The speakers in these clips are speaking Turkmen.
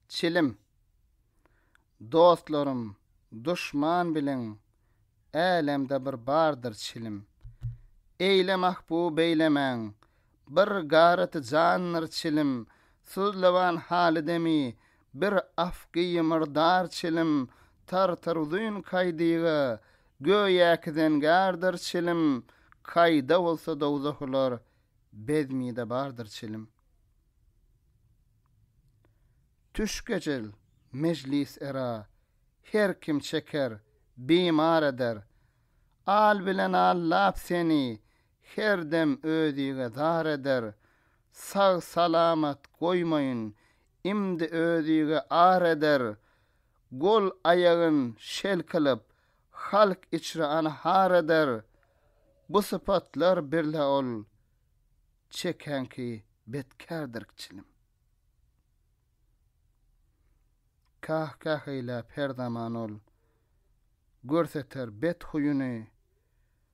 Çilim. Dostlarym, duşman biliň, Älemde bir bardyr çilim. Eýle mahbub eýlemäň, Bir garati jandyr çilim, Suzlawan haly demi, Bir afgy murdar çilim tartar uzyn kaýdyga, Göýäki zengärdir çilim kaýda bolsa dowzahylar bezmide bardyr çilim. Tüş gecel mejlis era, her kim çeker, bimar eder, Al bilen allap seni, her dem özige zar eder, Sag-salamat goýmaýyn, imdi öziige ar eder, Gol aýagyn şel kylyp, halk içre ana har eder, Bu sypatlar birle ol çekenki betkärdirk çilim. Kah-kah eýläp her zaman ol, görseter bet huýuny,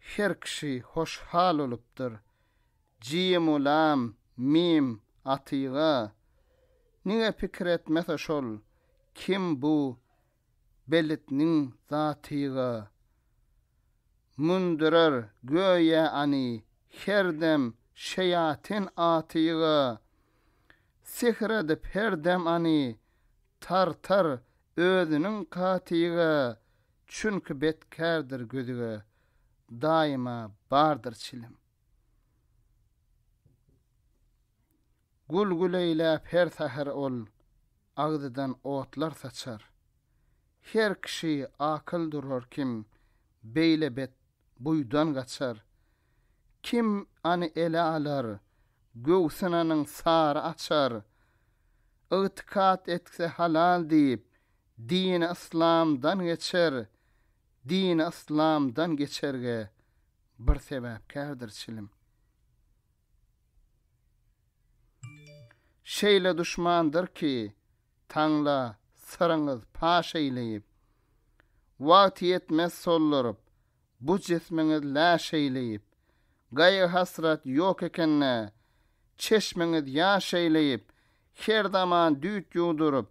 Her kişi hoşhal bolupdyr. Jim-ulam, Mim, Atyga, Niňe pikir etmese şol, kim bu belitniň zatyga? Mündürer göýä any, her dem şeýatyn atyga. Sihr edip her dem any, Tartar özüniň katyga, Çünki betkärdir gözüge, Daýyma bardyr çilim. Gul-gul eýläp her säher ol, Agzydan otlar saçar. Her kişi akyl durar kim, Beýle bet buýdan gaçar. Kim any ele alar, göwsünanyň sary açar. Ygtykat etse halal diýip, dini yslamdan geçer. Dini yslamdan geçerge bir sebäpkärdir çilim. Şeýle duşmandyr ki, Taňla syryňyz paş eýleýip, Wagt ýetmez solduryp, Bu jismiňiz läş eýleýip. Gaýgy-hasrat ýok eken-dä, Çeşmiňiz ýaş eýleýip, Her zaman düýt ýuwduryp,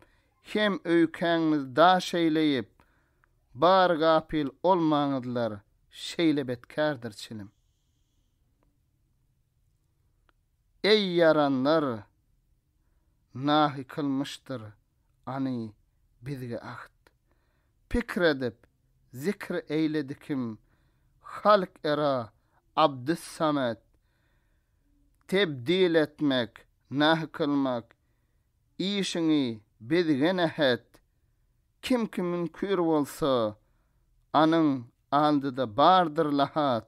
Hem öýkäňiz daş eýleýip. Bar gapyl olmaňyzlar, Şeýle betkärdir çilim. Eý ýaranlar! Nahy kylmyşdyr any bizge ahd. Pikir edip, zikr eýledi kim, Halk era Abdys-Samet. Tebdil etmek, nahy kylmak, Işiňi bizge nähet. Kimki münkür bolsa, anyň Aldyda bardyr lahat.